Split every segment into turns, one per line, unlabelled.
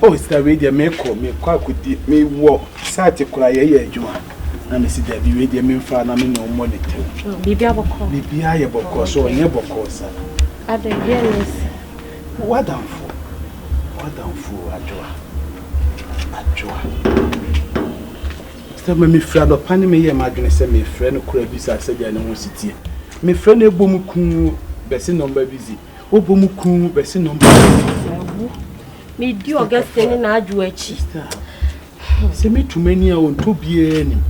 Oh, Mr. Radio, me call me quite could be me walk. Sat a cry, yeah, you are. na mesi dabi wei deɛ memfa na me na ɔmmɔ ne tɛm
biribia yɛ bɔkɔɔ
so ɔnyɛ bɔkɔɔ sa
wadamfo
wadamfo adwoa adwoa Sɛ ma mifiri adɔpa ne meyɛ m'adwene sɛ mefrɛ no kora bisa sɛdeɛ ne ho si teɛ. Mefrɛ no ɛbɔ mu kuu bɛse nɔmba busy, ɔbɔ mu kuu bɛse nɔmba busy. Awu,
medi ɔgɛsɛ ne n'adwo akyi.
Sɛ metu m'ani a ɔntɔ biara nim.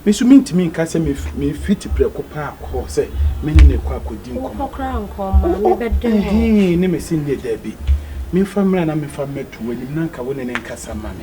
Me nso mentumi nka sɛ mefiti prɛko paa kɔ hɔ sɛ me ne no kɔ akɔdi nkɔmmɔ. Wokɔ koraa nkɔ mmaa,
mebɛdɛ ho. Ne me se nneɛ daabi.
Memfa mmra na memfa mmɛto w'anim na nka wo ne no nkasa ma me.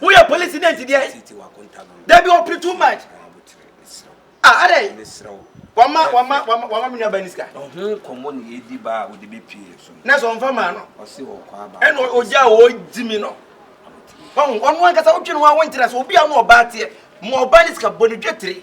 woyɛ police dɛ nsi deɛ dabi ɔpere too much ah adɛ wama wama wama wama mi nuaba ni sika. ɔho nkɔmɔ na yɛdi
ba a ɔde bɛpie so no. na sɛ ɔmfa maa
no ɛna
ɔgya a ɔgyi
mi no ɔno ankasa wotwe no ho a wonkyerɛ sɛ obi a ɔne ɔbaa teɛ ma ɔbaa ne sika bɔ ne dwetire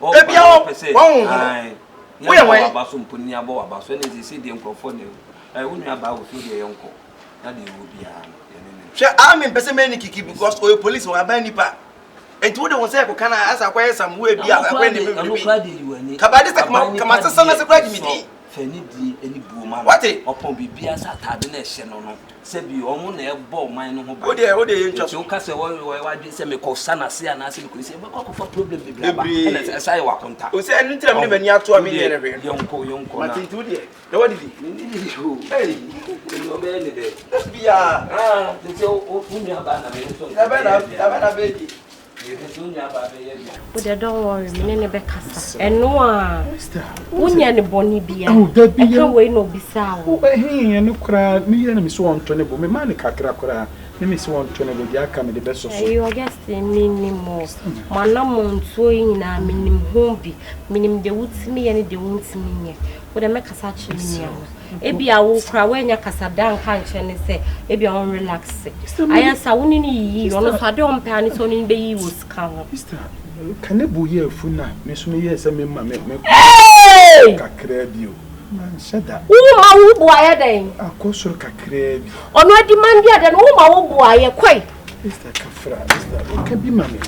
Ebia wo
honhom. Woyɛ wɔn. Aba so mpo ni abɔ aba
so ɛna esisi deɛ nkurɔfoɔ na ɛwɔ. Wo nua baa wɔ fie deɛ yɛn kɔ na deɛ ɛwɔ biara no yɛn ne ne. Hwɛ aa
me mpɛ sɛ mɛyɛ ne kiki because ɔyɛ police wɔn aban nipa. Enti wo de wɔn sɛ ɛkɔ kan a asa akɔyɛ some way bi a
ɛkɔ
ɛna ɛbɛ wuli bi.
Kabade
sɛ kama kama sesa na sɛ kura
gyimi
din. Fa
anidie ne buo ma no. Ɔpɔn biribiara
sɛ ataade
na ɛhyɛ no no sɛ bi wɔn na ɛbɔ ɔman no ho ban. Enti woka
sɛ wɔyɛ
w'adwene sɛ mekɔ sa no ase anaasɛ mekɔ nsi, ɛbɛkɔ akɔfa problem bebree aba ɛna ɛsan ayɛ w'akonta. Wodeɛ yɛnkɔ yɛnkɔ na. Mate nti wodeɛ
na woadidi? Mennidii o. Ei nti ɔbɛyɛ me dɛn? Dabiaa.
Haa
nti
wo nuabaa na me nso nka meyɛɛ biara. Dabɛn na
bɛɛdi?
Wode don't worry me ne ne bɛkasa ɛno a wonyɛ ne bɔne bia ɛka wei na obisaa wo ɛyɛ no
koraa ne yɛ no me sɛ wɔntɔ ne bo me ma ne kakra koraa ne me sɛ wɔntɔ ne bo deɛ aka mede bɛsɔ so ɛyɛ ɔgɛse
menim o manamɔ ntuo yi nyinaa menim ho bi menim deɛ wotumi yɛ ne deɛ wontumi nyɛ wode mɛkasa kyerɛ me nua no Ebia wo koraa woannya kasa da nka nkyerɛ ne sɛ ebia ɔn relax. Ayɛ sa wo ne no yiyi ɔno nso ade ɔmpɛ ane sɛ ɔne no bɛyiyi wɔ sika ho. Sister, ka
ne bo yɛ afu na me nso meyɛɛ sɛ mema me me kɔ kakraa bi o. Manhyɛ da. Woma wo bo
ayɛ dɛn? Akɔ soro kakraa
bi. Ɔno adi mandeɛ
dɛn woma wo bo ayɛ kɔe. Mister Kafra,
Mister, ka bi ma me.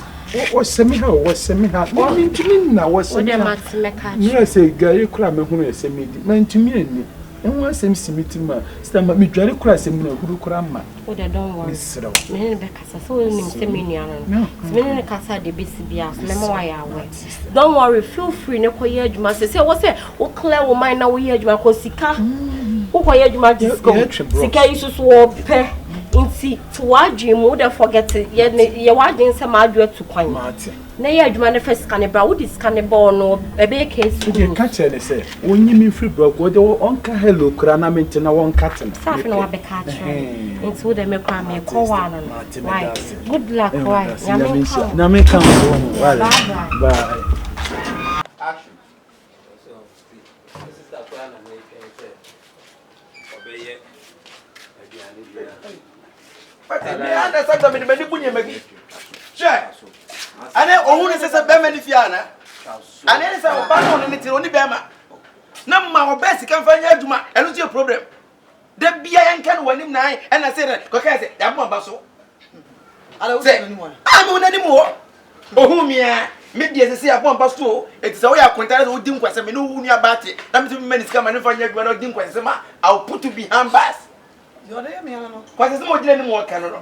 Wɔsɛ me ha o, wɔsɛ me ha. Wɔn mi ntumi nna, wɔsɛ me ha. Wodɛ ma te mɛ ka.
Nyɛ sɛ dware
kura me ho no ɛsɛ me di, ma ntumi ɛni. Ɛho asɛm si me tirim a, sɛ ma me dware kura asɛm mu na huru kura ma. Wodɛ don't worry.
Mesrɛ. Me ne bɛ kasa,
sɛ wɔn
nim sɛ me nua no no. Sɛ me ne ne kasa de besi bia, sɛ mɛma wɔayɛ awɛ. Don't worry feel free ne kɔ yɛ adwuma sɛ sɛ ɛwɔ sɛ wo clear wo mind na wo yɛ adwuma kɔ sika wo kɔ yɛ adwuma just go sika yi soso wɔ pɛ nti to wadwin mu wode forget yɛ ne yɛ wadwin sɛ maa adwo atu kwan na yɛ adwuma ne fɛ sika ne bra wode sika ne bɔɔ no ɛbɛyɛ case wode ka kyerɛ ne sɛ
wonyi me mfiri brɔg wode ɔnka hello kura na mente na wɔnka te no sɛ afei na wabɛka
akyerɛ nti wode me kora mekɔ hɔ ano no Good luck, eh, why? Nyame nka
wo. Nyame nka wo. Bye bye.
Action.
Ane ohun ne sese bɛrima ne fie ana ane ne sɛ ɔba ne ɔne ne tiri ɔne bɛrima na mma ɔbɛ sika nfa nyɛ adwuma ɛno nso yɛ problem. Da bia yɛnka no w'anim na ae ɛna sɛ dɛ kɔkae sɛ yɛabɔ aba so sɛ a mewo n'anim hɔ ohuu me a me deɛ sɛ sɛ yɛabɔ aba so o ɛti sɛ woyɛ akontare sɛ wodi nkwasɛ me ne wo nua baa te na mesɛ mema ne sika ma ne mfa nyɛ adwuma na wodi nkwasɛ sɛ ma I'll put you behind bars kwasɛ sɛ ma ogyina anim wɔka no no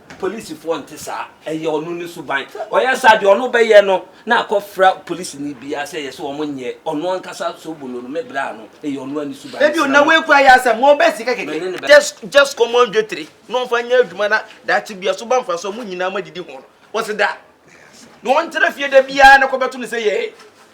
Polisifoɔ nte saa, ɛyɛ ɔno ne suban. Ɔyɛ saa deɛ ɔno bɛyɛ no na akɔ fra polisini biara sɛ yɛse ɔmo nyɛ, ɔno ankasa sobono no me braa no, ɛyɛ ɔnoa ne suban. Ebio na wei koraa yɛ
asɛm, ɔɔbɛ sika kɛkɛ. Just just kɔma wɔn dwetire na wɔnfa nyɛ adwuma na daakye bia so ba mfasoɔ, mo nyinaa mo adidi ho no, wɔse da? Na wɔntra fie da biara na kɔbɛto no sɛ yɛɛ.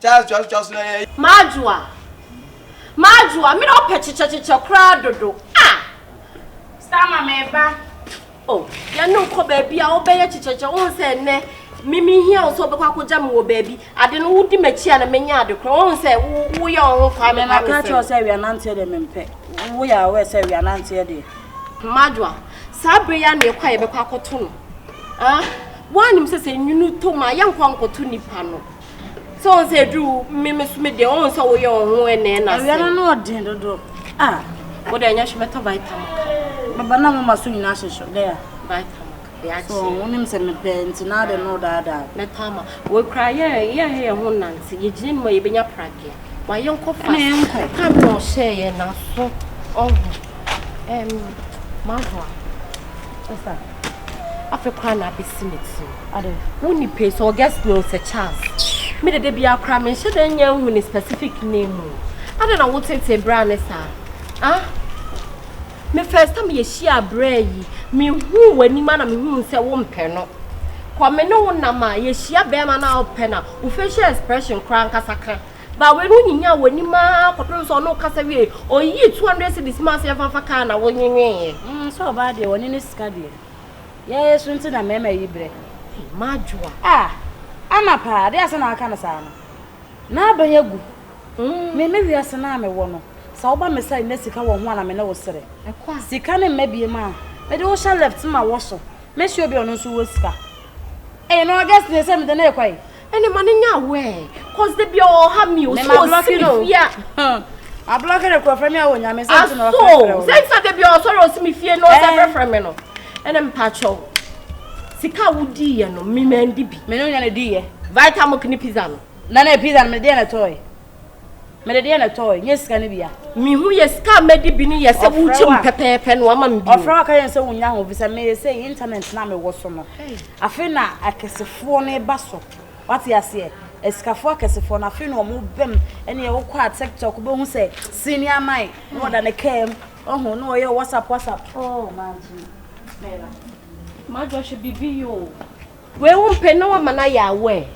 Charles
toa so toa so na yɛ.
M'adwoa, m'adwoa, me na ɔpɛ kyekyɛkyekyɛ koraa dodo ah! Starmer meba oh, yɛne no nkɔ baabi a wobɛyɛ kyekyɛkyekyɛ wohu sɛ ɛnɛ me mehia wo sɛ wobɛkɔ akɔgya me wɔ baabi ade no wodi m'akyi a na menya ade koraa wohu sɛ woyɛ wo ho kwaa me kwaa me sɛ. Mema ka kyerɛ sɛ awia nanteɛ
deɛ mempɛ woyɛ aware sɛ awia nanteɛ deɛ. M'adwoa,
saa berɛ yi ara na yɛkɔ a yɛbɛkɔ akɔto no ah! Woanim sɛ sɛ nwunu tɔ mu a yɛnkɔ nkɔto nipa no. sɛ ɔn sɛ edu me me so me deɛ ɔn sɛ woyɛ ɔn ho ɛnɛɛ na sɛ awia no no ɔden dodo
a wo deɛ
nyɛ hwɛ bɛtɔ vitamin ka bɛba na moma so
nyinaa hyehyɛ dɛ a vitamin ka bɛ
akyi so wonim
sɛ mepɛ nti na ade no daadaa mɛtɔ ama wei
koraa yɛ yɛ hɛ yɛ ho nante yɛgyina nim a yɛbɛnya pradeɛ wayɛ nkɔ fa ne nkɔ ka me na ɔhyɛ yɛ naso ɔho ɛm mahoa ɛsa Afei koraa na abɛsi me tirim. Ade. Wo ni pay sɛ ɔgɛ snow sɛ Charles. Me de de bia koraa menhyɛ da nya nhu ne specific name o. Ade na wo tete bra ne saa. Ah? Me first time yɛhyia abrɛ yi, mehu w'anim a na mehu sɛ wompɛ no. Kɔ me ne wo nam a yɛhyia bɛrima no a wopɛ no a, wo facial expression koraa nkasa ka Bawee no nyinyaa w'anim ara kɔpem sɛ ɔne wo kasa wiee, ɔyii two hundred cedis maa sɛ yɛmfa mfa kaa na wo nwenweeɛ. Mm sɛ ɔbaa deɛ ɔne
ne sika deɛ yɛɛ so nti na mɛɛma yi brɛ. Ei m'adwoa.
Ah
Anna paa adeɛ a sɛ na aka no saa no n'aban agu me me wiase no a me wɔ no sɛ woba me side na sika wɔ ho a na me ne wo sere sika ne mma biem a mede wo hyɛ left ma wɔ so mɛhyɛ obi a ɔno nso wɔ sika ei no August nie sɛ mede no rekɔ ei ɛne ma ne nya awɛ
cause de bia ɔwɔ ha mi o so o si mi fie a ma
blɔki ne kura fɛmi awɔ nyame sɛ nti na ɔfɛ fɛ o sɛ nsa de bia
ɔsɔre o si mi fie na ɔsɛ fɛ fɛ mi no ɛne mpakyɛw sika a wodi yɛ no mi mɛ ndi bi mɛ ne nya ne di yɛ
vitamin ne pizza
no na na pizza no mɛ deɛ
na tɔɔ yɛ. mede deɛ na ɛtɔɔ nyɛ sika no bia mehu yɛ sika
mɛdi bi no yɛ sɛ wokyɛ mu pɛpɛɛpɛ no ama me bi ɔfrɛ waka yɛn sɛ wonya ho
bi sɛ meyɛ sɛ internet na mewɔ so no afei na akɛsefoɔ no ba so wate aseɛ asikafoɔ akɛsefoɔ no afei na ɔmo bɛm ɛne ɛwokɔ a tiktok bɛhu sɛ sini aman na ɔda ne kaa mu ɔho na ɔyɛ whatsapp whatsapp oh man
madwɔhwɛ biribi yoo Wei wo mpɛ na wama no ayɛ aware.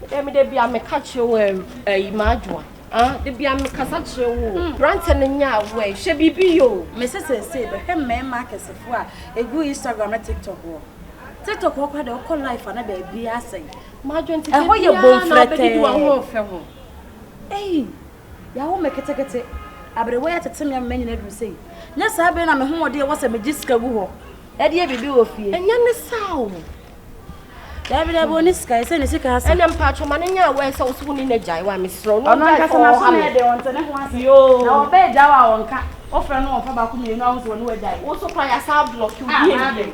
Ɛdɛ me da bia meka kyerɛ wo ɛyi m'adwoa. Ah, da bia mekasa kyerɛ wo. Hmm. Brantɛ no nyɛ aware. Hwɛ biribi yo. Me se sɛsɛ bɛhwɛ
mmarima akɛsefo a egu Instagram na TikTok hɔ. TikTok hɔ kora de ɔkɔ life ana baabi asɛn. M'adwo
ntete bia na ɔbɛdidi
wɔn ho ɔfɛ ho.
Ei.
Yɛawo me ketekete. Aberewa yi atete me ama manyini aduru sei. Nyɛ saa bere na me hoɔden a ɛwɔ sɛ megye sika gu hɔ de yɛ biribi wɔ fie. Ɛnyɛ ne saa o. Daabi, daabi, ɔnni sika. Ɛsɛ ne sika asa. Ɛnna mpaatwɔ ma no nyɛ aware
sɛ wo so wo ne no agyae wa mesrɛ wo. Ɔno ankasa n'aso na ɛyɛ den, ɔnte ne ho ase. Na
ɔbɛ agyae
wo a
ɔnka. Wofrɛ no ɔmfa baako mmienu a wo nso wɔ ne wagyae. Wo nso koraa yɛasan
ablɔke wo bio.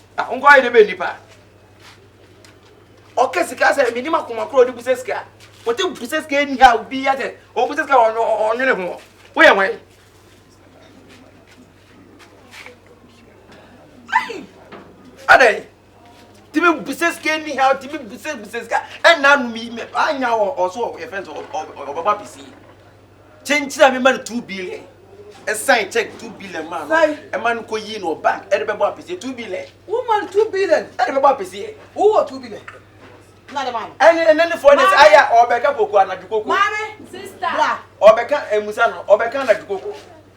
Ah, nkɔ ayɛ dɛ bɛ nipa. Ɔkɛ sika sɛ menim akoma korɔ ɔde busa sika. Ɔte busa sika ni ha obi yɛ sɛ ɔbusa sika ɔnwene ho. Woyɛ hwan? Adɛn? Timi busa sika ni ha timi busa busa sika ɛna anum yi mɛ anya ɔso ɔyɛ fɛn sɛ ɔbɛbɔ apisi. Kyenkyen a mema no two billion. Ɛsan check two billion maa no. Ɛma no kɔ yii no wɔ bank ɛde bɛbɔ apɛsie two billion. Wo ma no two billion
ɛde bɛbɔ apɛsie.
Wo wɔ two billion.
Na de ma no. Ɛne ɛne ne fɔ ne sɛ aya
ɔbɛka koko anadwo koko. Maame. Sista.
Bra.
Ɔbɛka
emusa
no ɔbɛka anadwo koko.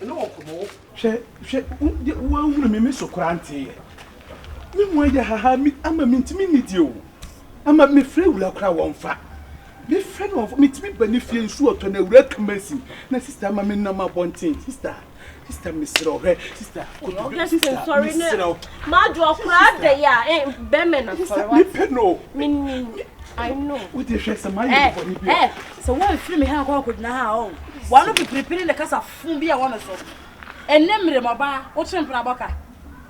Hwɛ, hwɛ,
wo deɛ woanhunu me, me so koraa nteeɛ. Me ho ayɛ haha, me, ama mentumi nnidie o. Ama mefrɛ awura koraa wɔmfa. Mefrɛ no wɔmfa, mentumi ba ne fie nsuo ɔtɔ na awura ka masin. Na sista ama me nam abɔnten, sista, sista mesrɛ wo, hwɛ, sista, kotodwe, sista,
mesrɛ wo. Madwo ɔkoraa dɛyɛ a, eh, bɛmɛ na sɔre wa. Mepɛ no. Menim, I know. Wo deɛ hwɛ sɛ mayɛ
bɔne bi a. Sɛ wɔrefiri me ha
rekɔ akɔgyina ha a, oh, w'ano pipiripiri ne kasa fofo bi a ɛwɔ me so. Ɛnnɛ mmere mu, ɔbaa, wotwe mprabɔ ka.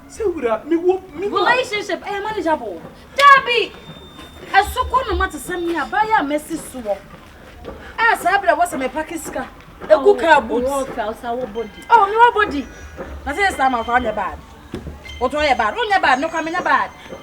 Sɛ wura,
mewɔ me mu a. Relationship ɛyɛ
manageable. Dabi! Ɛso kɔ no ma te sɛ me a, baa yi a masi soɔ a, saa bere a ɛwɔ sɛ mepake sika gu kaa boot. Oh, ɔfɛ, ɔsa wɔ body. Oh, mewɔ body. Na sɛ yɛ saa ma nkɔla nyɛ bad. Wotɔ yɛ bad, wonyɛ bad, mekɔ a menyɛ bad.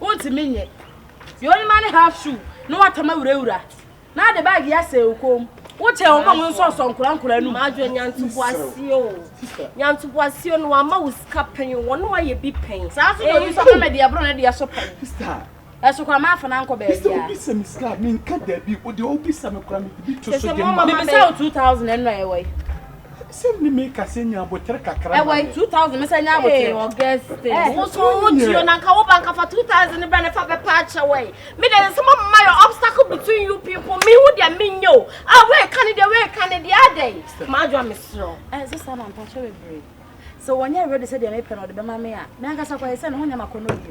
Wontumi nyɛ. Deɛ ɔnim ane half shoe na watama wurawura na ade bag yi asɛe wo kɔn mu. Wokyɛn wɔn a wɔn nsɔnsɔ nkora nkora no mu. Madwo nyantoboaseɛ
o. Nyantoboaseɛ no wama wo sika pɛn o. Wɔn ayɛ bi pɛn. Saa nso na obi nso ɔka ma
deɛ ɛboro ne deɛ so pɛn. Sister. Ɛso
kora ma afana
nkɔ baabi a. Sister obi sɛ me sika
me
nka
daabi o deɛ obi sɛ me kora me de bi to so de ma. Mebisa wo two thousand
ɛno na ɛwɔ yi. Sɛ mi
mi ka sɛ nya abotere kakra ma me. Ɛwɔ two thousand mi
sɛ nya abotere. Ee Augustine. Ɛ eh,
woso wo tuo na nka wo ba nka fa two thousand ni bra ne fa bɛ pa akyɛ wɔ yi. Mi de nsɛm ɔmo ma yɛ obstacle between you people mi hu deɛ mi nye o. A ah, wei ka ne deɛ wei ka ne deɛ adɛ yi. Ma adwa mi serɛ. Ɛ eh, sisa ma mpakyɛ
bebree. Sɛ wɔnyɛ ready sɛ deɛ mi pɛ na ɔde bɛ ma mi a. Mi ankasa kɔ ayɛ sɛ ne ho nyɛ ma kɔ no bi.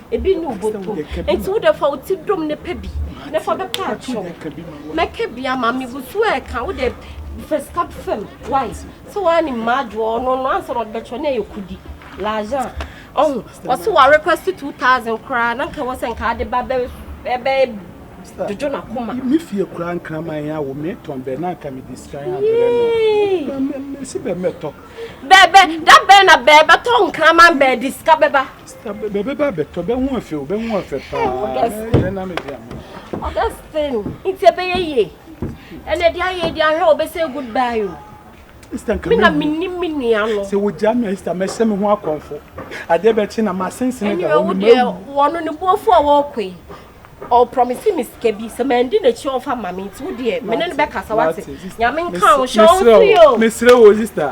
ebi ne wobotom nti wo dɛ fa wo ti dom ne pɛ bi na fa bɛpa akyɛw mɛka bi ama me gu so ɛka wo dɛ fɛ sika fam wai sɛ waa ne mmaa adwoɔ ɔno no ansa na ɔde bɛkyɛw na ɛyɛ kudi lajan ɔho ɔso wa request two thousand koraa na nka wɔ sɛ nka ade ba bɛ ɛbɛ dodo na koma me fie koraa nkraman
yɛ awo me tɔn bɛ na nka me de sika yɛ abrɛ no me si bɛ mɛtɔ Bɛɛbɛ, da
bɛn na bɛɛbɛtɔ nkraman bɛɛde sika bɛba? Sika bɛ bɛba
bɛtɔ bɛhu afɛ o bɛhu afɛ paa. Augustine. Yɛ nam ebi ama. Augustine,
nti ɛbɛyɛ yie. Ɛnna ɛde ayɛ ɛde ahwɛ o bɛsɛ goodbye o. Ista nka mi na mi ni mi nua no. Sɛ wogya mi a Ista
mɛhyɛ mi ho akɔnfo. Adeɛ bɛkye na ma sensene da hɔ no mɛ wu. Wɔn
ne buofo a wɔkɔ yi. Ɔprɔmisi mi sika bi sɛ mɛ ndi n'akyi ɔnfa ma mi nti wo deɛ mene no bɛkasa wate. Nyame nka wo hyɛ ɔnso
yi o.
Mesrɛ
wo
Ista.